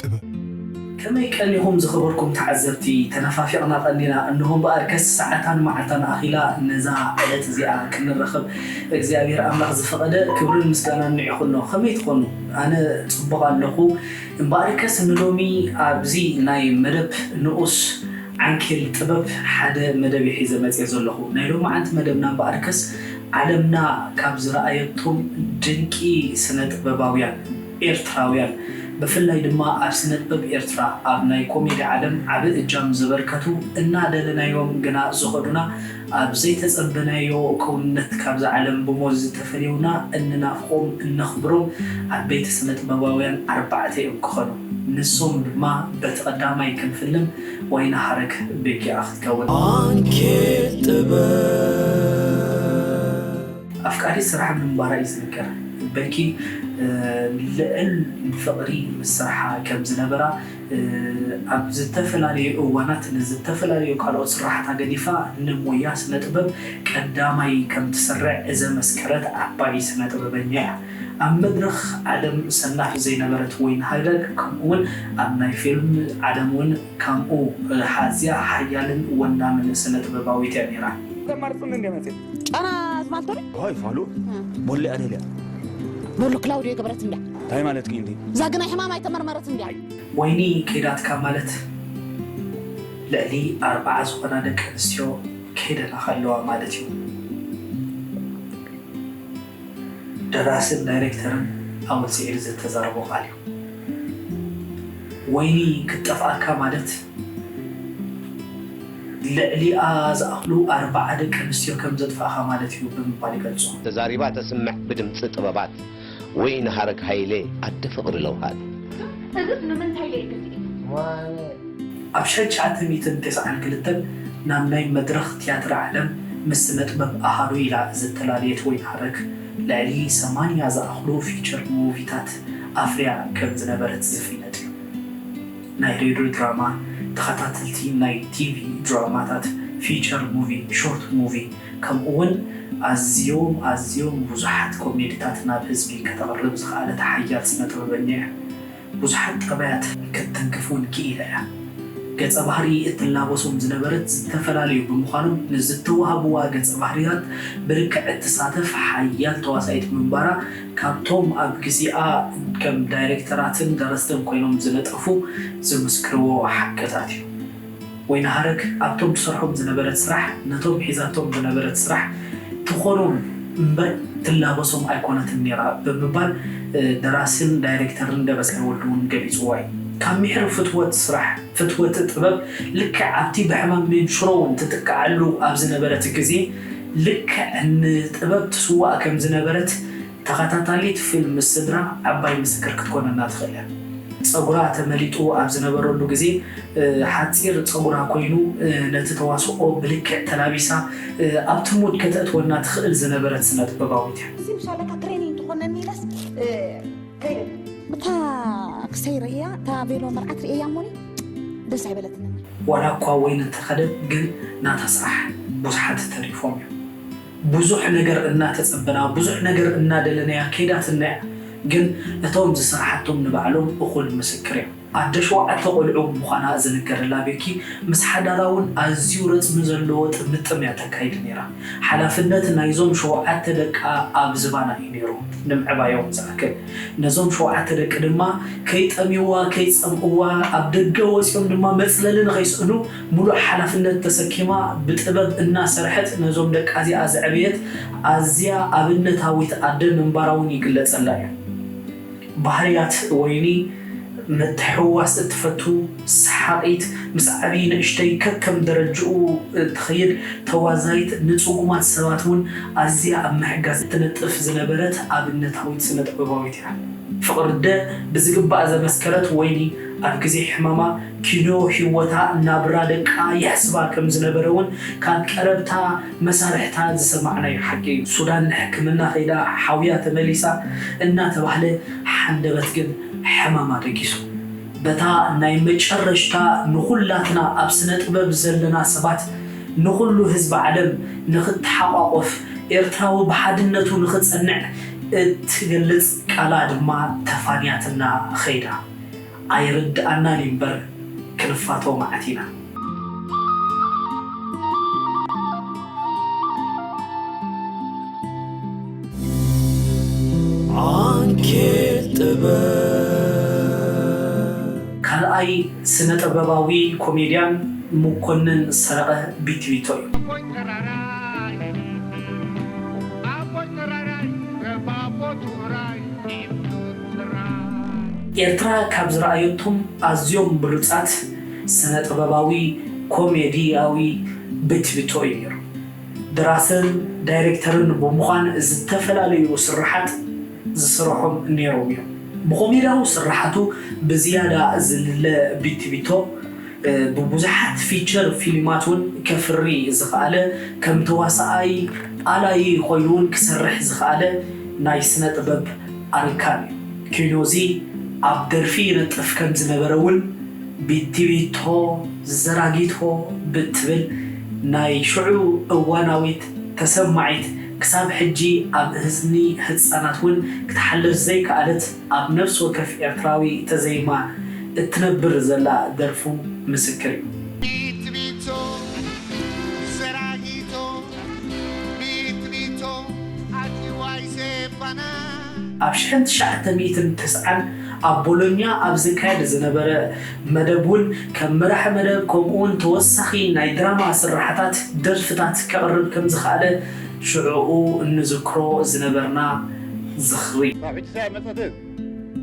ጥበብ። ከመይ ቀኒኹም ዝኸበርኩም ተዓዘብቲ፣ ተነፋፊቕና ቀኒና፣ እንሆ እምበኣርከስ ሰዓታን መዓልታን ኣኺላ ነዛ ዕለት እዚኣ ክንራኸብ እግዚኣብሄር ኣምላኽ ዝፈቐደ፣ ክብርን ምስጋናን ንዒኹኖ፣ ከመይ ትኾኑ? ኣነ ጽቡቕ ኣለኹ፣ እምበኣርከስ ንሎሚ ኣብዚ ናይ መደብ ንኡስ ዓንኬል ጥበብ ሓደ መደብ'የ ሒዘ መጺኤ ዘለኹ፣ ናይ ሎምዓንቲ መደብና እምበኣርከስ ዓለምና ካብ ዝረኣየቶም ድንቂ ስነ ጥበባውያን፣ ኤርትራውያን ብፍላይ ድማ ኣብ ስነጥበብ ኤርትራ ኣብ ናይ ኮሜዲ ዓለም ዓቢ እጃም ዘበርከቱ እናደለናዮም ግና ዝኸዱና ኣብ ዘይተጸበናዮ ክውንነት ካብዛ ዓለም ብሞት ዝተፈልዩና እንናፍቆም እነኽብሮም ዓበይቲ ስነጥበባውያን ኣርባዕተ እዮም ክኸኑ ንሶም ድማ በቲ ቀዳማይ ክንፍልም ወይኒ ሃረግ ቤኪኣ ክትከውን። ኣንኬል ጥበብ። ኣፍቃሪት ስራሕ ምንባራ እዩ ዝንገር። በኪ ልዕል ፍቕሪ ምስ ስርሓ ከም ዝነበራ፣ ኣብ ዝተፈላለዩ እዋናት ንዝተፈላለዩ ካልኦት ስርሓታ ገዲፋ ንሞያ ስነጥበብ ቀዳማይ ከም ትስርዕ ዘመስከረት ዓባይ ስነጥበበኛ እያ። ኣብ መድረኽ ዓለም ሰናፍ ዘይነበረት ወይን ሃይለር ከምኡ'ውን ኣብ ናይ ፊልም ዓለም እውን ከምኡ ኣዝያ ሓያልን ወናምን ስነጥበባዊት እያ ነይራ። ተማርጽኒ እንዲያ መጺኣ ጨና ዝማልቶ ዶ ሆይ ፋሉ ቦሌ ኣደልያ ኖሎ ክላውድዮ ገበረት እንድያ እንታይ ማለት ግን እንዲ እዛ ግናይ ሕማም ኣይተመርመረት እንድያ ወይኒ ከይዳትካ ማለት ልዕሊ ኣርብዓ ዝኾና ደቂ ኣንስትዮ ከይደናኻ ኣለዋ ማለት እዩ። ደራስን ዳይሬክተርን ኣወል ስዒድ ዝተዛረቦ ቃል እዩ። ወይኒ ክትጠፍኣካ ማለት ልዕሊኣ ዝኣኽሉ ኣርባዓ ደቂ ኣንስትዮ ከም ዘጥፋእኻ ማለት እዩ ብምባል ይገልጾ። ተዛሪባ ተስምዕ ብድምጺ ጥበባት ወይኒ ሃረግ ሃይለ ኣደ ፍቅሪ ለውሃት። እዝስ ንምንታይ ለይ ግዜ? ኣብ ሸቻተ ሚእትን ተሰዓን ክልተን ናብ ናይ መድረኽ ትያትር ዓለም ምስ ስነጥበብ ኣሃዱ ኢላ ዝተላለየት ወይኒ ሃረግ፣ ልዕሊ ሰማንያ ዝኣኽሉ ፊቸር ሙቪታት ኣፍርያ ከም ዝነበረት ዝፍለጥ እዩ። ናይ ሬድዮ ድራማ፣ ተኸታተልቲ ናይ ቲቪ ድራማታት፣ ፊቸር ሙቪ፣ ሾርት ሙቪ ከምኡ'ውን ኣዝዮም ኣዝዮም ብዙሓት ኮሜዲታት ናብ ህዝቢ ከተቕርብ ዝኸኣለት ሓያል ስነ-ጥበበኛ እያ። ብዙሓት ጠባያት ክትትንክፍ እውን ክኢላ እያ። ገጸ ባህሪ እትላበሶም ዝነበረት ዝተፈላለዩ ብምዃኖም ንዝተዋህብዋ ገጸ ባህርያት ብርክዕ እትሳተፍ ሓያል ተዋሳኢት ምንባራ ካብቶም ኣብ ግዜኣ ከም ዳይሬክተራትን ደረስትን ኮይኖም ዝነጠፉ ዝምስክርዎ ሓቅታት እዩ። ወይንሃረግ ኣብቶም ትሰርሖም ዝነበረት ስራሕ ነቶም ሒዛቶም ዝነበረት ስራሕ ትኾኖም እምበር ትላበሶም ኣይኮነትን ነይራ ብምባል ደራሲን ዳይሬክተርን ደበሳይ ወልዱ'ውን ገሊጹዎ እዩ። ካብ ምሒር ፍትወት ስራሕ ፍትወት ጥበብ ልክዕ ኣብቲ ብሕማም መንሽሮ'ውን ትጥቅዓሉ ኣብ ዝነበረት ግዜ ልክዕ ንጥበብ ትስዋእ ከም ዝነበረት ተኸታታሊት ፊልም ምስ ስድራ ዓባይ ምስክር ክትኮነና ትኽእል እያ። ጸጉራ ተመሊጥዎ ኣብ ዝነበረሉ ግዜ ሓጺር ጸጉራ ኮይኑ ነቲ ተዋስኦ ብልክዕ ተላቢሳ ኣብቲ ሙድ ከተእትወና ትኽእል ዝነበረት ስነጥበባዊት እያ። እዚ ብሻለካ ትሬኒንግ ትኾነኒ ኢለስ ከይደ ብታ ክሰይ ርእያ እታ ቬሎ መርዓት ርእየያ እሞኒ ደስ ኣይበለትንን። ዋላ እኳ ወይኒ እንተኸደት ግን ናታ ስራሕ ብዙሓት ተሪፎም እዮም። ብዙሕ ነገር እናተጸበናያ ብዙሕ ነገር እናደለናያ ከይዳትና እያ ግን እቶም ዝሰራሓቶም ንባዕሎም እኹል ምስክር እዮም ኣደ ሸውዓተ ቆልዑ ምዃና ዝንገረላ ቤኪ ምስ ሓዳራ ውን ኣዝዩ ረጽሚ ዘለዎ ጥምጥም እያ ተካይድ ኔራ ሓላፍነት ናይዞም ሸውዓተ ደቃ ኣብ ዝባና እዩ ኔሩ ንምዕባዮም ዝኣክል ነዞም ሸውዓተ ደቂ ድማ ከይጠምይዋ ከይጸምእዋ ኣብ ደገ ወጽዮም ድማ መጽለሊ ንኸይስእኑ ሙሉእ ሓላፍነት ተሰኪማ ብጥበብ እናሰርሐት ነዞም ደቃ እዚኣ ዘዕበየት ኣዝያ ኣብነታዊት ኣደ ምንባራ እውን ይግለፀላ እዩ። ባህርያት ወይኒ ምትሕውዋስ እትፈቱ፣ ሰሓቒት፣ ምስ ዓብዪ ንእሽተይ ከከም ደረጅኡ እትኸይድ፣ ተዋዛይት፣ ንፅጉማት ሰባት እውን ኣዝያ ኣብ ምሕጋዝ እትነጥፍ ዝነበረት ኣብነታዊት ስነ-ጥበባዊት እያ። ፍቕሪ ኣደ ብዝግባእ ዘመስከረት ወይኒ፣ ኣብ ግዜ ሕማማ ኪኖ ህይወታ ናብራ ደቃ የሕስባ ከም ዝነበረ ውን ካብ ቀረብታ መሳርሕታ ዝሰማዕናዮ ሓቂ እዩ። ሱዳን ንሕክምና ከይዳ ሓውያ ተመሊሳ እናተባህለ ሓንደበት ግን ሕማማ ደጊሱ። በታ ናይ መጨረሽታ ንኹላትና ኣብ ስነጥበብ ዘለና ሰባት ንኹሉ ህዝቢ ዓለም ንኽተሓቋቆፍ ኤርትራዊ ብሓድነቱ ንኽጸንዕ እትገልጽ ቃላ ድማ ተፋንያትና ኸይዳ። ኣይርድኣናን እዩ እምበር ክንፋቶ መዓት ኢና። ዓንኬል ጥበብ። ካልኣይ ስነ ጥበባዊ ኮሜድያን ሙኮንን ሰረቀ ቢቲቢቶ እዩ። ኣቦይ ተራራይ ኣቦይ ተራራይ ተባቦት ውራይ ኤርትራ ካብ ዝረኣየቶም ኣዝዮም ብሉጻት ስነ-ጥበባዊ ኮሜድያዊ ቤትብቶ እዩ ነይሩ። ደራስን ዳይሬክተርን ብምዃን ዝተፈላለዩ ስርሓት ዝስርሖም ነይሮም እዮም። ብኮሜድያዊ ስርሓቱ ብዝያዳ ዝልለ ቤትብቶ፣ ብብዙሓት ፊቸር ፊልማት እውን ከፍሪ ዝኸኣለ፣ ከም ተዋሳኣይ ኣላዪ ኮይኑ'ውን ክሰርሕ ዝኸኣለ ናይ ስነ-ጥበብ ኣርካን ኪኖዚ ኣብ ደርፊ ይነጥፍ ከም ዝነበረ እውን ቢቲቢቶ ዘራጊቶ ብትብል ናይ ሽዑ እዋናዊት ተሰማዒት ክሳብ ሕጂ ኣብ እዝኒ ህጻናት እውን ክትሓልፍ ዘይከኣለት ኣብ ነፍሲ ወከፍ ኤርትራዊ ተዘይማ እትነብር ዘላ ደርፉ ምስክር እዩ። ቢቲቢቶ ዘራጊቶ! ኣብ ሽሕን ትሽዓተ ሚእትን ተስዓን ኣብ ቦሎኛ ኣብ ዝካየድ ዝነበረ መደብ'ውን ከም መራሒ መደብ ከምኡ'ውን ተወሳኺ ናይ ድራማ ስርሓታት ደርፍታት ከቕርብ ከም ዝኸኣለ ሽዕኡ እንዝክሮ ዝነበርና ዝኽሪ።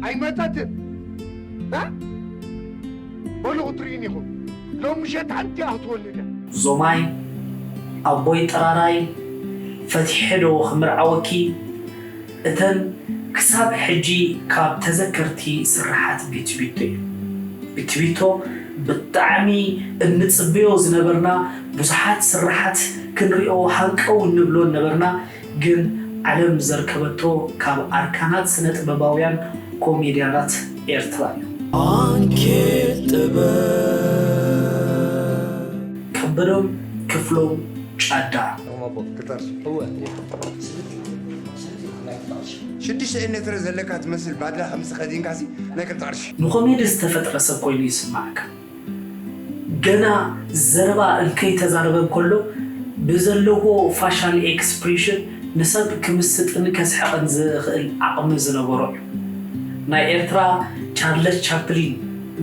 ኣይመጸትን እ በሉ ክትርእዩኒ ኢኹም ሎም ምሸት ሓንቲ እያ ክትወልድ እያ። ዞማይ ኣቦይ ጥራራይ ፈቲሐ ዶ ክምርዓወኪ እተን ክሳብ ሕጂ ካብ ተዘከርቲ ስርሓት ቢቲቢቶ እዩ ቢቲቢቶ ብጣዕሚ እንጽበዮ ዝነበርና ብዙሓት ስርሓት ክንሪኦ ሃንቀው እንብሎን ነበርና ግን ዓለም ዘርከበቶ ካብ ኣርካናት ስነጥበባውያን ኮሜድያናት ኤርትራ እዩ። ኣንኬት ጥበብ። ከበዶም ክፍሎም ጫዳ። ሽዱሽተ ኤነትረ ዘለካ ትመስል ባድላ ከምዚ ተከዲንካሲ ናይ ክልተ ቅርሺ። ንኮሜዲ ዝተፈጥረ ሰብ ኮይኑ ይስማዓካ። ገና ዘረባ እንከይተዛረበ እንከሎ ብዘለዎ ፋሻል ኤክስፕሬሽን ንሰብ ክምስጥን ከስሕቕን ዝኽእል ዓቕሚ ዝነበሮ እዩ። ናይ ኤርትራ ቻርለስ ቻፕሊን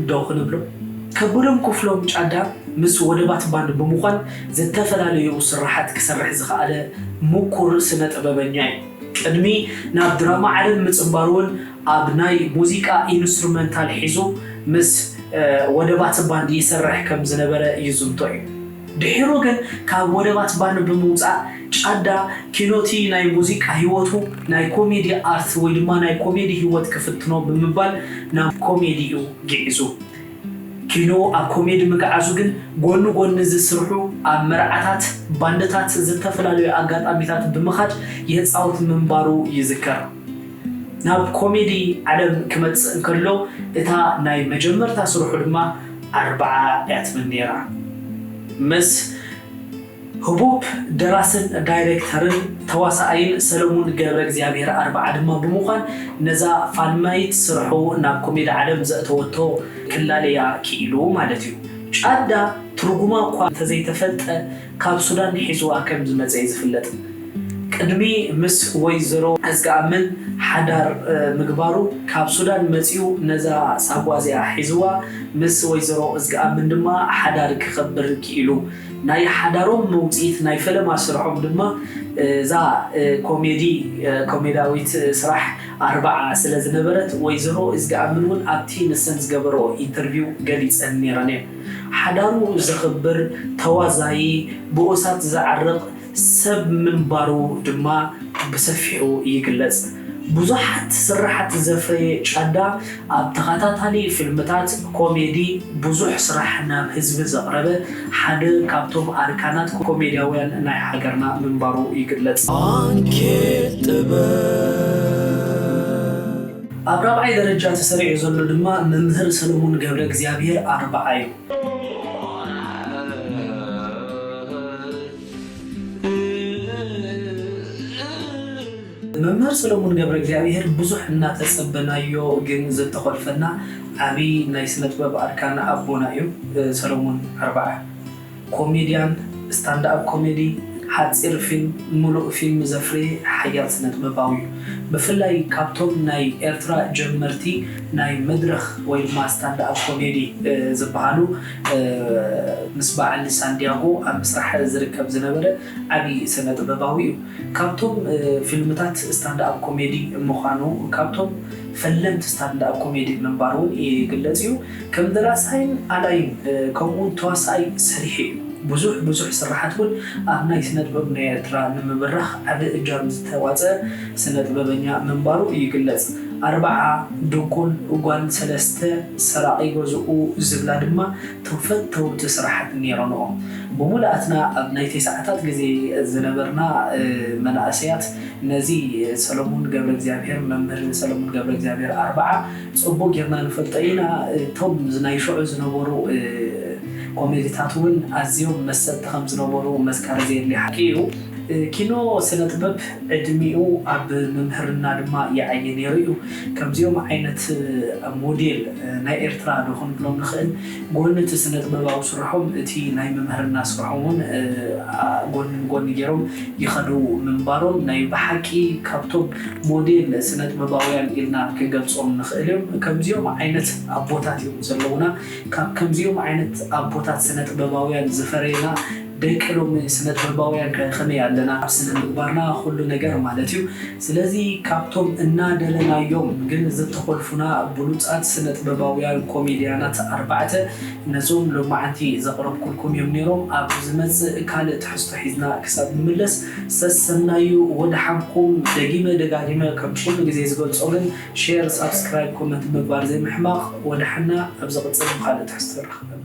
ዶ ክንብሎ? ከቡድም ኩፍሎም ጫዳ ምስ ወደባት ባንድ ብምዃን ዝተፈላለዩ ስርሓት ክሰርሕ ዝኸኣለ ምኩር ስነ-ጥበበኛ እዩ። ቅድሚ ናብ ድራማ ዓለም ምጽንባሩ'ውን ኣብ ናይ ሙዚቃ ኢንስትሩመንታል ሒዙ ምስ ወደባት ባንድ ይሰርሕ ከም ዝነበረ ይዝንቶ እዩ። ድሒሩ ግን ካብ ወደባት ባንድ ብምውጻእ ጫዳ ኪኖቲ ናይ ሙዚቃ ህይወቱ ናይ ኮሜዲ ኣርት ወይ ድማ ናይ ኮሜዲ ህይወት ክፍትኖ ብምባል ናብ ኮሜዲ እዩ ግዒዙ። ኪኖ ኣብ ኮሜዲ ምግዓዙ ግን ጎኒ ጎኒ ዝስርሑ ኣብ መርዓታት ባንድታት ዝተፈላልዩ ኣጋጣሚታት ብምኻድ የጻውት ምንባሩ ይዝከር። ናብ ኮሜዲ ዓለም ክመጽእ እንከሎ እታ ናይ መጀመርታ ስርሑ ድማ ኣርብዓ እያ ትብል ነይራ። ምስ ህቡብ ደራስን ዳይረክተርን ተዋሳኣይን ሰለሙን ገብረእግዚኣብሄር ኣርብዓ ድማ ብምዃን ነዛ ፋልማይት ስርሑ ናብ ኮሜዲ ዓለም ዘእተወቶ ክላለያ ክኢሉ ማለት'ዩ። ጫዳ ትርጉማ እኳ እንተዘይተፈልጠ፣ ካብ ሱዳን ሒዝዋ ከም ዝመጸ'ዩ ዝፍለጥ። ቅድሚ ምስ ወይዘሮ እዝቀኣምን ሓዳር ምግባሩ ካብ ሱዳን መጺኡ ነዛ ሳጓ'ዚኣ ሒዝዋ ምስ ወይዘሮ እዝቀኣምን ድማ ሓዳር ክኸብር ክኢሉ። ናይ ሓዳሮም መውጽኢት ናይ ፈለማ ስርሖም ድማ እዛ ኮሜዲ ኮሜዳዊት ስራሕ ኣርብዓ ስለ ዝነበረት ወይዘሮ እዝቀኣምን'ውን ኣብቲ ንሰን ዝገበርኦ ኢንተርቪው ገሊጸን ኔረን'የን። ሓዳሩ ዘኽብር፣ ተዋዛዪ፣ ብኡሳት ዘዕርቕ ሰብ ምንባሩ ድማ ብሰፊሑ ይግለጽ። ብዙሓት ስርሓት ዘፍረየ ጫዳ፣ ኣብ ተኸታታሊ ፊልምታት ኮሜዲ ብዙሕ ስራሕ ናብ ህዝቢ ዘቕረበ ሓደ ካብቶም ኣርካናት ኮሜድያውያን ናይ ሃገርና ምንባሩ ይግለጽ። ዓንኬል ጥበብ! ኣብ ራብዓይ ደረጃ ተሰሪዑ ዘሎ ድማ መምህር ሰለሙን ገብረእግዚኣብሄር ኣርብዓ ዩ። መምህር ሰለሙን ገብረእግዚኣብሄር ብዙሕ እናተጸበናዮ ግን ዘተኾልፈና ዓብይ ናይ ስነጥበብ ኣርካን ኣቦና ዩ ሰለሙን ኣርብዓ። ኮሜድያን፣ ስታንድኣፕ ኮሜዲ፣ ሓጺር ፊልም፣ ምሉእ ፊልም ዘፍረየ ሓያል ስነጥበባዊ'ዩ። ብፍላይ ካብቶም ናይ ኤርትራ ጀመርቲ ናይ መድረኽ ወይ ድማ ስታንድኣፕ ኮሜዲ ዝበሃሉ ምስ በዓል ሳንድያጎ ኣብ ምስራሕ ዝርከብ ዝነበረ ዓቢ ስነጥበባዊ'ዩ። ካብቶም ፊልምታት ስታንድኣፕ ኮሜዲ ምዃኑ ካብቶም ፈለምቲ ስታንድኣፕ ኮሜዲ ምንባሩ'ውን ይግለጽ'ዩ። ከም ደራሳይን ኣላይን ከምኡውን ተዋሳኣይ ሰሪሑ እዩ። ብዙሕ ብዙሕ ስርሓት እውን ኣብ ናይ ስነጥበብ ናይ ኤርትራ ንምብራኽ ዓቢ እጃም ዝተዋጽኣ ስነጥበበኛ ምንባሩ ይግለጽ። ኣርባዓ፣ ድንቁል ጓል ሰለስተ፣ ሰራቒ ገዝኡ ዝብላ ድማ እቶም ፈተውቲ ስርሓት ነይሮንኦ። ብሙሉኣትና ኣብ ናይ ቴስዓታት ግዜ ዝነበርና መናእሰያት ነዚ ሰለሙን ገብረእግዚኣብሄር፣ መምህር ሰለሙን ገብረእግዚኣብሄር ኣርባዓ፣ ጽቡቅ ጌርና ንፈልጦ ኢና እቶም ናይ ሽዑ ዝነበሩ ኮሜድታት ውን ኣዝዮም መሰጥቲ ከም ዝነበሩ መዝካሪ ዘየድልዮ ሓቂ ኢዩ ኪኖ ስነ ጥበብ ዕድሚኡ ኣብ ምምህርና ድማ ይዓዪ ኔሩ ኢዩ ከምዚኦም ዓይነት ሞዴል ናይ ኤርትራ ዶ ክንብሎም ንኽእል ጎኒ እቲ ስነጥበባዊ ስርሖም እቲ ናይ ምምህርና ስርሖም ውን ጎኒ ንጎኒ ጌሮም ይኸዱ ምንባሮም ናይ ብሓቂ ካብቶም ሞዴል ስነጥበባውያን ኢልና ክንገልጾም ንኽእል ዮም። ከምዚኦም ዓይነት ኣቦታት ዮም ዘለውና። ካብ ከምዚኦም ዓይነት ኣቦታት ስነጥበባውያን ዝፈረየና ደቂ ሎሚ ስነጥበባውያን ከ ከመይ ኣለና ኣብ ስነምግባርና ኩሉ ነገር ማለት ዩ ስለዚ ካብቶም እናደለናዮም ግን ዝተኾልፉና ብሉጻት ስነጥበባውያን ኮሜድያናት ኣርባዕተ ነዞም ሎማዓንቲ ዘቕረብኩልኩም ዮም ኔሮም ኣብ ዝመጽእ ካልእ ትሕዝቶ ሒዝና ክሳብ ንምለስ ሰሰናዩ ወደሓንኩም ደጊመ ደጋጊመ ከም ኩሉ ግዜ ዝገልጾ ግን ሼር ሳብስክራይብ ኮመንት ምግባር ዘይምሕማቕ ወደሓና ኣብ ዝቕጽል ብኻልእ ትሕዝቶ ንራኸበና።